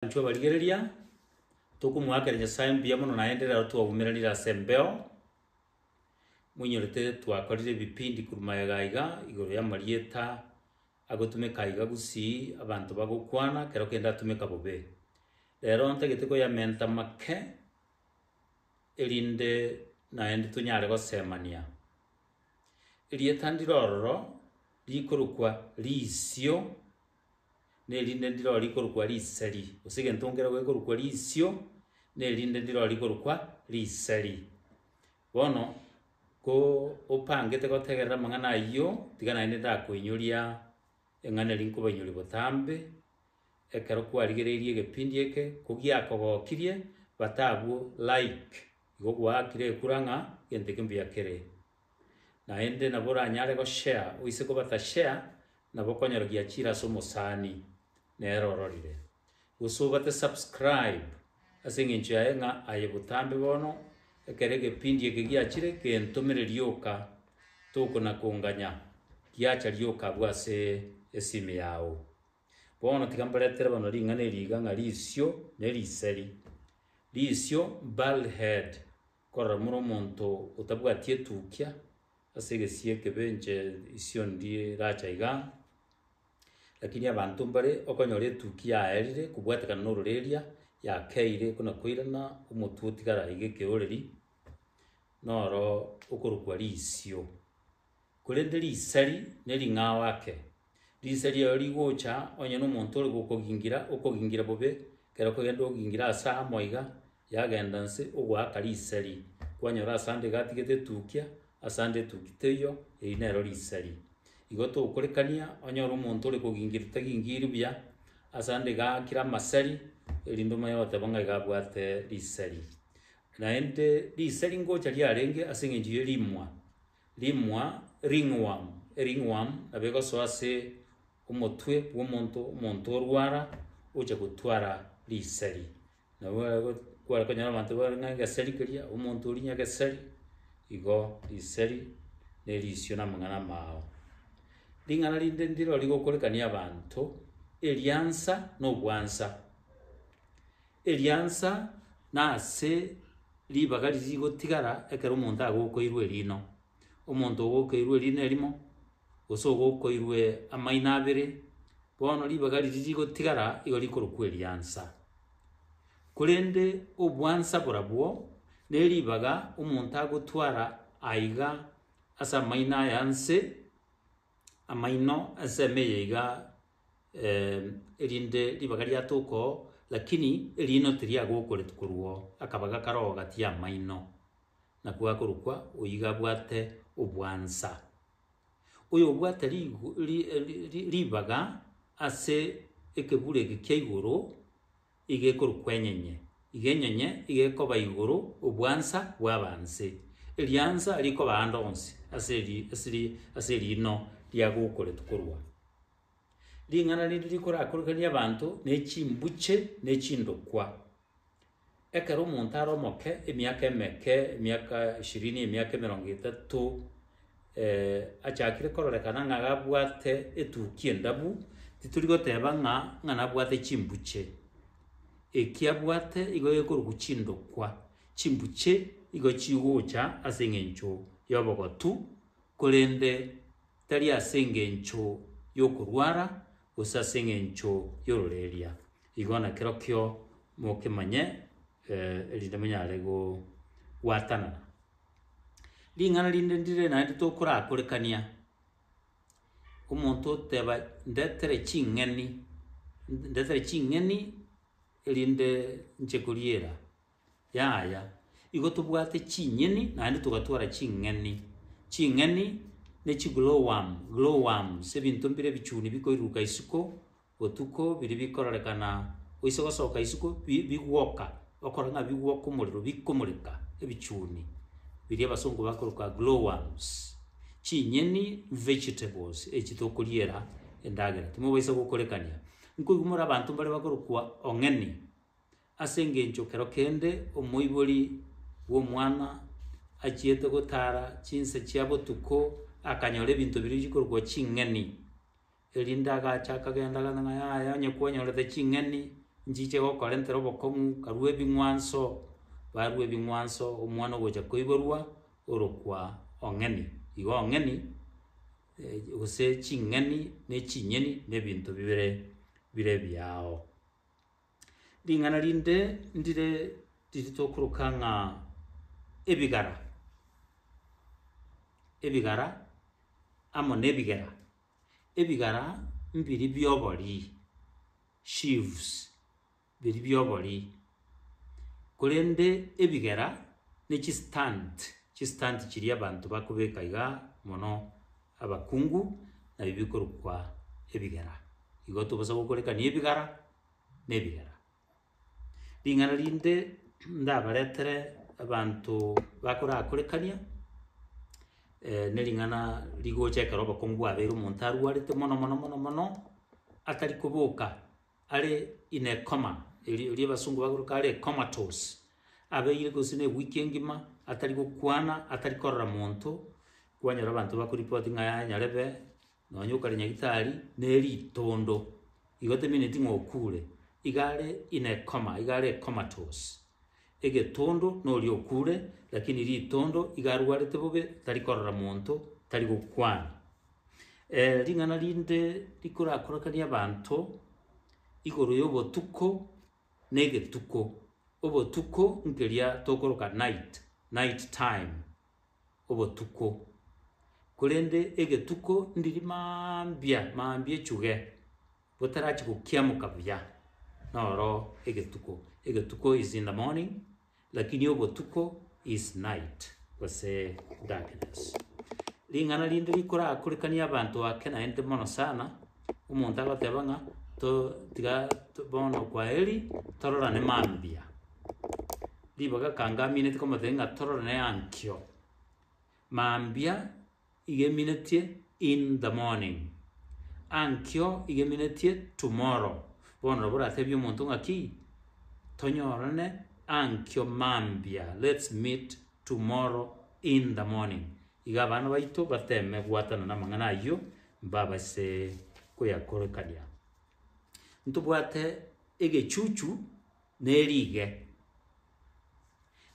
Intwe abarigereria, tokomoakera Nyasae mbuya mono naende rero twaumeranire ase embeo, moinyorete twakorire ebipindi korwa magega aiga igoro y'amarieta agotumeka aiga gusii abanto bagokwana kero kende atumeka bobe. Rero ntagete koyamenta make erinde naende tonyare gosemania. Erieta ndire ororo rikorokwa Riisio nerinde ndiro rikorokwa riseri, gose egento nkere gekorokwa risio, nerinde ndiro rikorokwa riseri. Bono, ko opangete gotegerera amang'ana ayio, tiga naende ndakoinyoria eng'ana eria nkobainyoria botambe, ekero kwarigereirie egepindi eke, ko giakogokirie, bata abwo like, igo gwaakire ekura ng'a egento eke mbuya kere. Naende nabo oranyare goshea oise kobatashea, na bokonyora giachire ase omosani nere ororire. Gose obate subscribe ase engencho yaye ng'a aye botambe bono ekero egepindi eke giachire gentomere rioka tokonakonganya giacha rioka abwo ase esimi yao. Bono tiga mboretere bono ring'ana eri iga ng'a risio ne riseri. Risio, bald head, Korora, more omonto otabwati etukia ase egesie ekebe, inche isio ndiracha iga, lakini abanto mbare okonyora etukia yaerire kobwatekana nororeria, yakeire buna koirana omotwe otigara iga ekeoreri, noro okorokwa risio. korende risari ne ring'ao ake. Risari ero rigocha onye nomonto ore gokogingira, okogingira bobe, ekero okogenda ogingira ase amo iga, yagenda nse ogoaka risari, kwanyora ase ande iga atigete etukia, ase ande etuki teiyo, eri nero risari. Igo tokorekania onyore omonto ore kogingira tagingiiri buya, ase ande iga aakire amasari, erinde omanye goteba ng'a iga abwate risari. Naende risari ngocha riarenge ase eng'encho ye rimwa. rimwa, ringworm, e ringworm nabo egosoa ase omotwe bw'omonto, omonto orwara ocha gotwara risari. Nabo ego kware konyora abanto bare ng'a egesari keria, omonto oria nyagesari, igo risari na erisio na amang'ana amao. Ring'ana rinde ndiro rigokorekania abanto, eriansa na obwansa. eriansa na ase ribaga riria rigotigara ekero omonto agokoirwe erino. Omonto ogokoirwe erino erimo, gose ogokoirwe amaino abere, bono ribaga riria rigotigara igo rikorokwa eriansa. Korende obwansa borobwo, ne ribaga omonto agotwara aiga ase amaino aya nse. amaino ensemo eye iga, erinde ribaga riato okoo, lakini eriino tiriagokoreti korwa oo, akabaga kare oo gati y'amaino, nako gakorokwa oyio iga abwate obwansa. Oyo obwate rigo ri- ri- ribaga ase ekebura eke kia igoro. iga ekorukwa enyenye, iga enyenye iga ekoba igoro obwansa bwaba nse, eriansa rikoba ande onsi ase ri ase ri ase riino riagokoretwe korwa aa. Ring'ana riri rikorakorokanie abanto nechimbuche ne chindokwa. Ekero omonto are omoke, emiaka emeke, emiaka ishirini, emiaka emerongo etato. achakire kororekana ng'a gabwate etukia endabu, titori goteba ng'a ng'a nabwate chimbuche. Eki abwate igo gekorokwa chindokwa, chimbuche igo chigocha ase eng'encho y'obogotu, korende tari ase engencho y'okorwara, gose ase eng'encho y'ororeria. Igo nakerokio mokemanye, erinde monyare gobwatanana. Ring'ana rinde ndire naende tokorakorekania, omonto oteba ndetere ching'eni, ndetere ching'eni erinde nche koriera, yaya, igo tobwate chinyeni naende togatwara ching'eni. Ching'eni ne chi glowworm, glowworms, ebinto mbire ebichuni bikoiruruka isiko, botuko biria bikororekana oise gosoka isiko bi- bigwoka, okore ng'a bigwoka omorero bikomoreka ebichuni biria abasungu bakoroka glow worms, chinyeni, vegetables, echi tokoriera endagera timobaisa gokorekania. Nkoigwa more abanto mbare bakorokwa ong'eni, ase engencho kero kende omoibori bw'omwana achiete gotara chinsa chia botuko akanyora ebinto biria bikorokwa ching'eni. Erinde agacha akagenda agantha ng'a, Yaya, onye kwanyorete ching'eni, nchiche gokorentera obokong'u, karue ebing'wanso. Barue ebing'wanso, omwana ogocha koiborwa orokwa ong'eni. Igo ong'eni, gose ching'eni ne chinyeni na ebinto bibere bire ebiao. Ring'ana rinde ndire riri tokoroka ng'a ebigara, ebigara amo na ebigera. ebigara mbiri bi'oborii, sheaves, biri bi'oborii, korende ebigera ne chistand, chistand chiria abanto bakobeka iga mono abakungu, nabio bikorokwa ebigera. Igo tobosa gokorekania ebigara na ebigera. Ring'ana rinde ndabaretere abanto bakorakorekania, nering'ana rigocha ekero obokongu bwabeire omonto arwarete mono mono mono mono, atari koboka are in a coma, eri erio abasungu bagotaka are comatose, abeire gose ne ewiki engima atari gokwana, atari korora monto, kwanyora abanto bakorepoti ng'a yaya nyarebe Nonya okare nyagitari ne ritondo igo temeneti ng'a okure, iga are in a coma, iga are comatose. Egetondo noria okure, lakini ritondo iga arwarete bobe tari korora monto, tari gokwana. Eh, ring'ana rinde rikorakorakanie abanto igoro y'obotuko na egetuko. Obotuko nkeria tokoroka night, night time. obotuko, korende egetuko ndiri mambia mambia echuge, botarachi gokiamoka buya, noro egetuko. Egetuko is in the morning, lakini obotuko is night, gose darkness. Ring'ana rinde rikorakorekanie abanto ake naende mono sana, omonto agoteba ng'a to tiga to bono kwaheri, tororane mambia. Ribaga ekanga aminetie komotebi ng'a torore naye ankio. Mambia iga eminetio in the morning, ankio iga eminetio tomorrow. Bono nabo oratebie omonto ng'aki, tonyorane ankio mambia, let's meet tomorrow in the morning. Iga abana baito bateme gwatanana namang'ana ayio, mbabase koyakorekania. Ntobwate egechuchu. ne riige,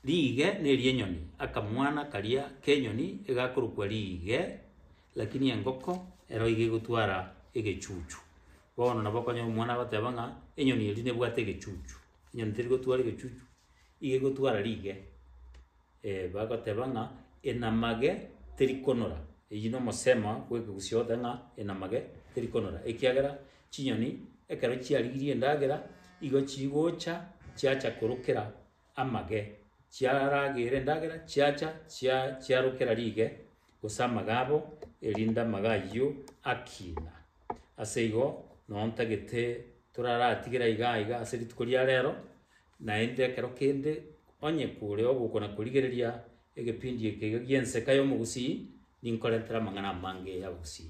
riige neri'enyoni, akamwana karia k'enyoni egakorokwa riige, lakini engoko ero iga egotwara egechuchu. Bono nabo okonyora omwana agoteba ng'a enyoni eria nebwate egechuchu, enyoni terigotwara egechuchu, iga egotwara riige. Ee, bagoteba ng'a enamage terikonora. Eyio nomosemo bw'ekegusii ogote ng'a enamage terikonora, ekiagera chinyoni ekero chiarigirie endagera igo chigocha chiacha korokera amage, chiaragera endagera chiacha chia chiarokera rige gose amage abo, erinde amage ayio akina. Aseigo, noo ntagete toraratigere aiga aiga ase rituko ria rero, Naende ekero kende onye kore ogokwana korigereria egepindi eke iga gi'enseka y'omogusii, ninkorentera amang'ana amange y'abagusii.